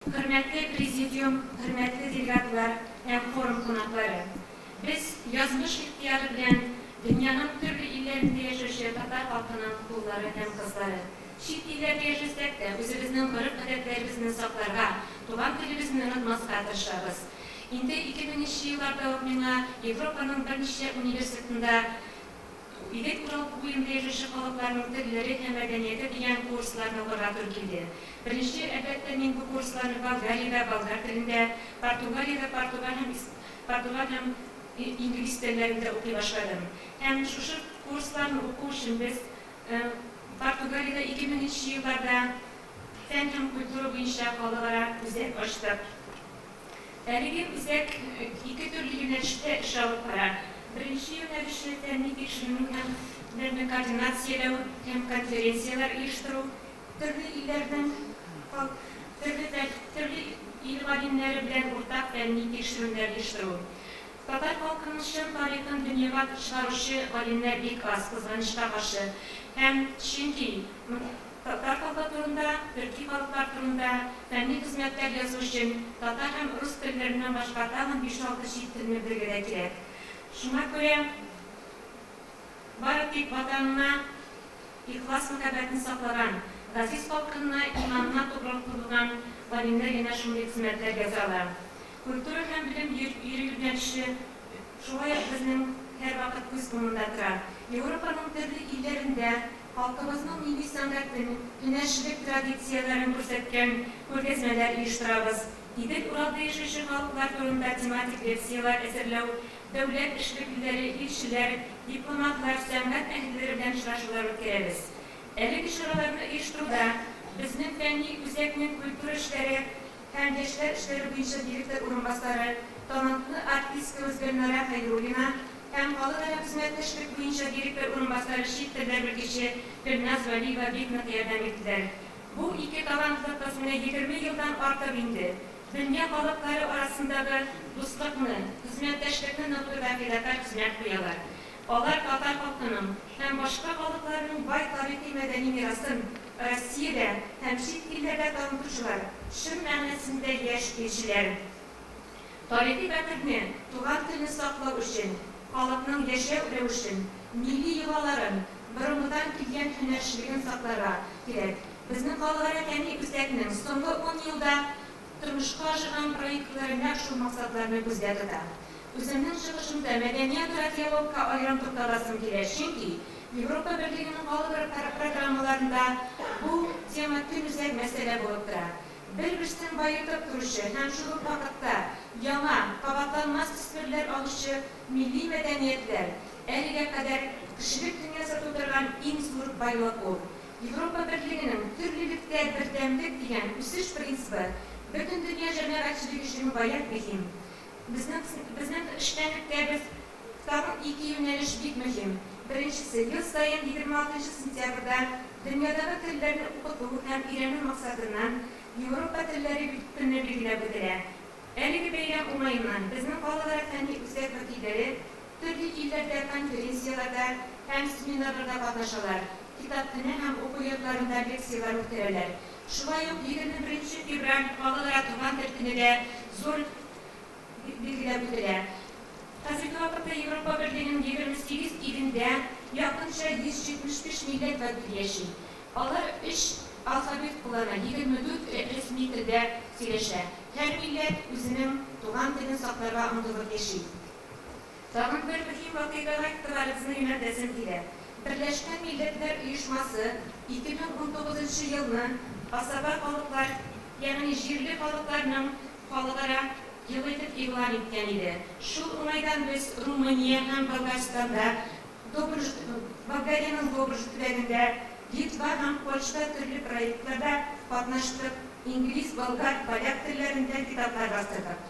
Хөрмәтле Президиум, хөрмәтле делегатлар һәм форум кунаклары! Без, язмыш ихтыяры белән дөньяның төрле илләрендә яшәүче татар халкының уллары һәм кызлары, чит илләрдә яшәсәк тә, үзебезнең гореф-гадәтләребезне сакларга, туган телебезне онытмаска тырышабыз. Инде ике меңенче елларда ук миңа Европаның берничә университетында, Илек урал буенда яшәүче халыкларның телләре һәм мәдәнияте дигән курсларны укырга туры килде. Беренче, әлбәттә, мин бу курсларны Болгариядә, болгар телендә, Португалиядә, португаль һәм ис португаль һәм и инглиз телләрендә укый башладым. Һәм шушы курсларны уку өчен без э Португалиядә ике меңенче елларда фән һәм культура буенча халыкара үзәк ачтык. Әлеге үзәк ике төрле юнәлештә эш алып бара. Беренче юнәлеше, фәнни-тикшеренү һәм белемне координацияләү һәм конференцияләр оештыру, төрле илләрнең төрле ил галимнәре белән уртак фәнни-тикшерүләр оештыру. Татар халкының чын тарихын дөньяга чыгаручы галимнәр бик аз, кызганычка каршы. Һәм чөнки. Татар халкы турында, төрки халыклар турында фәнни хезмәтләр язу өчен татар һәм рус телләреннән башка тагын биш-алты чит телне белергә дә кирәк. Шуңа күрә бары тик Ватанына ихлас-мәхәббәтне саклаган, газиз халкынына иманына тугрылык куелган галимнәр генә шундый хезмәтләр яза ала. Культура һәм белем йөри юнәлеше шулай ук безнең һәрвакыт күз уңында тора. Европаның төрле илләрендә, Халкыбызның милли сәнгатен, һөнәрчелек традицияләрен күрсәткән күргәзмәләр оештырабыз. Идел Уралда яшәүче халыклар турында тематик лекцияләр әзерләү, дәүләт эшлеклеләре, илчеләр, дипломатлар, сәнгать әһелләре белән очрашулар үткәрәбез. Әлеге чараларны оештыруда безнең фәнни үзәкнең культура эшләре, һәм яшьләр эшләре буенча директор урынбасары, талантлы артисткабыз Гөлнара Хәйруллина һәм халыкара хезмәттәшлек буенча директор урынбасары, чит телләр белгече Гөлназ Вәлиева бик нык ярдәм иттеләр. Бу ике талантлы кыз менә егерме елдан артык инде дөнья халыклары арасындагы дуслыкны, хезмәттәшлекне ныгытуда фидакарь хезмәт куялар. Алар татар халкының һәм башка халыкларның бай тарихи-мәдәни мирасын Россиядә һәм чит илләрдә танытучылар, чын мәгънәсендә яшь илчеләр. Тарихи бәхетне, туган телне саклау өчен, халыкның яшәү рәвешен, милли йолаларын, борынгыдан килгән һөнәрчелеген сакларга кирәк. Безнең халыкара фәнни үзәкнең соңгы ун елда Тормышка ашырган проектлар нәкъ шул максатларны күздә тота. Үземнең чыгышымда мәдәният радиологка аерым тукталасым килә, чөнки Европа Берлегенең калыбр программаларында бу тема көнүзәк мәсьәлә булып тора. Бер-берсен баетып торучы һәм шул ук вакытта яңа, кабатланмас төсмерләр алучы милли мәдәниятләр, әлегә кадәр кешелек дөньясы тудырган иң зур байлык ул. Европа Берлегенең Төр лебедкә бердәмлек дигән үсеш принцибы бөтен дөнья җәмәгатьчелеге өчен гаять мөһим. Безнең безнең эшчәнлеккә без тагын ике юнәлеш бик мөһим. Беренчесе, ел саен егерме алтынчы сентябрьдә дөньядагы телләрне укыту һәм өйрәнү максатыннан Европа телләре көне билгеләп үтелә. Әлеге бәйрәм уңаеннан, безнең калалар фәнни үзәк вәкилләре, Төрле илләрдә конференцияләрдә һәм семинарларда катнашалар, китапханә һәм уку йортларында лекцияләр үткәрәләр. Шулай ук егерме беренче февраль балалар туган тел көне дә зур билгеләп үтелә. Хәзерге вакытта Европа берлегенең егерме сигез илендә якынча 175 милләт вәкиле яши. Алар өч алфавит куллана, егерме дүрт рәсми телдә сөйләшә. Һәр милләт үзенең туган телен сакларга омтылып яши. Тагын бер мөһим вакыйгага игътибарыгызны юнәлтәсем килә. Берләшкән Милләтләр Оешмасы 2019 елны Асаба халыклар, ягъни җирле халыкларның халыкара елы итеп игълан иткән иде. Шул уңайдан без Румыния һәм Болгарстанда, Добруҗ, Болгариянең Добруҗ төбәгендә, Литва һәм Польшада төрле проектларда катнаштык, инглиз, болгар, поляк телләрендә китаплар бастырдык.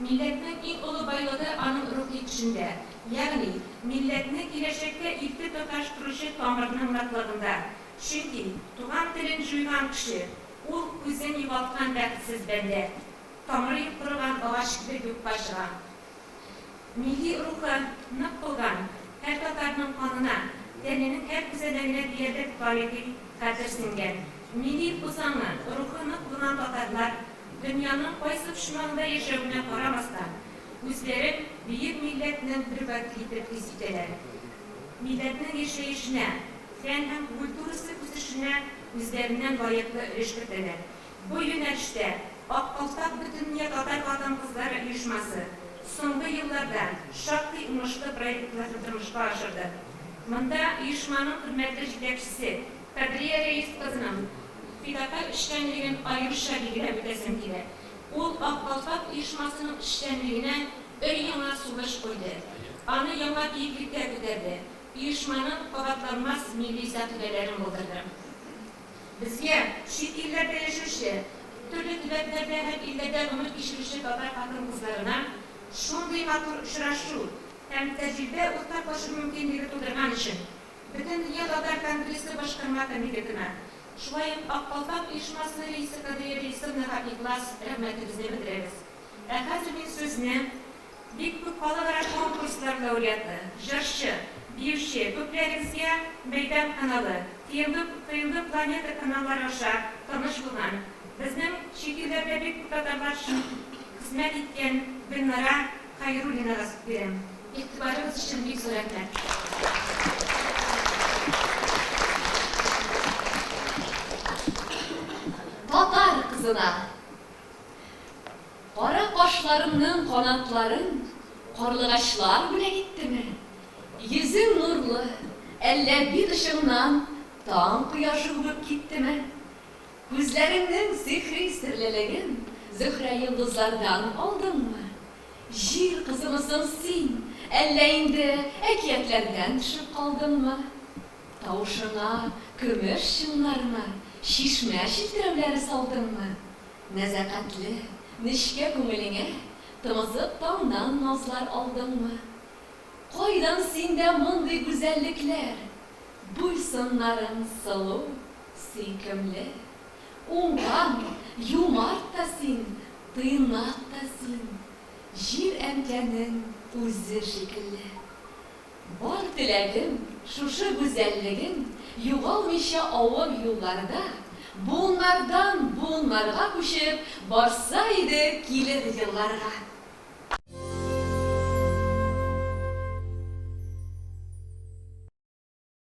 Милләтнең иң олы байлыгы аның рухи көчендә, ягъни милләтне киләчәккә илтеп тоташтыручы тамырның ныклыгында. Чөнки туган телен җуйган кеше, ул, үзен югалткан бәхетсез бәндә. Тамыры юк корыган агач кебек юкка чыга. Милли рухы нык булган һәр татарның канына, тәненең һәр күзәнәгенә диярлек тарихи хәтер сеңгән. Милли үзаңы, рухы нык булган татарлар Дөньяның кайсы почмагында яшәвенә карамастан, үзләрен бөек милләтнең бер бәке итеп хис итәләр. Милләтнең яшәешенә, фән һәм культурасы үсешенә үзләреннән лаеклы өлеш кертәләр. Бу юнәлештә Ак калфак Бөтендөнья татар хатын-кызлары оешмасы соңгы елларда шактый уңышлы проектларны тормышка ашырды. Монда оешманың хөрмәтле җитәкчесе, Кадрия Рәис кызының фидакарь эшчәнлеген аеруча билгеләп үтәсем килә. Ул Ак калфак оешмасының эшчәнлегенә өр-яңа сулыш куйды, аны яңа биеклеккә күтәрде, оешманың кабатланмас милли сәкыйфәләрен булдырды. Безгә, чит илләрдә яшәүче, төрле төбәкләрдә һәм илләрдә гомер кичерүче татар хатын-кызларына шундый матур очрашу һәм тәҗрибә уртаклашу мөмкинлеге тудырган өчен Бөтендөнья татар конгрессы башкарма комитетына, шулай ук Ак калфак оешмасы рәисе Кадрия Рәисовнага ихлас рәхмәтебезне белдерәбез. Ә хәзер мин сүзне бик күп халыкара конкурслар лауреаты, җырчы, биюче, күпләрегезгә Мәйдан каналы, ТМВ, ТМВ Планета каналлары аша таныш булган, безнең чит илләрдә бик күп татарлар өчен хезмәт иткән Гөлнара Хәйруллина Разкбирә. Игътибарыгыз өчен бик зур рәхмәт. Татар кызына! Кара кашларыңның канатларын карлыгачлар бүләк иттеме? Йөзең нурлы, әллә бит очыңнан таң кояшы үбеп киттеме? Күзләреңнең сихри серлелеген Зөһрә йолдызлардан алдыңмы? Җир кызымы соң син, әллә инде әкиятләрдән төшеп калдыңмы? Тавышыңа көмеш чыңнармы, чишмә челтерәүләре салдыңмы? Нәзакәтле, нечкә күңелеңә тымызык таңнан назлар алдыңмы? Кайдан синдә мондый гүзәллекләр? Буй-сыннарың сылу, сөйкемле. Уңган, юмарт та син, тыйнак та син, Җир әнкәнең үзе шикелле. Бар теләгем, шушы гүзәллегең югалмыйча авыр юлларда, буыннардан буыннарга күчеп барса иде килер елларга.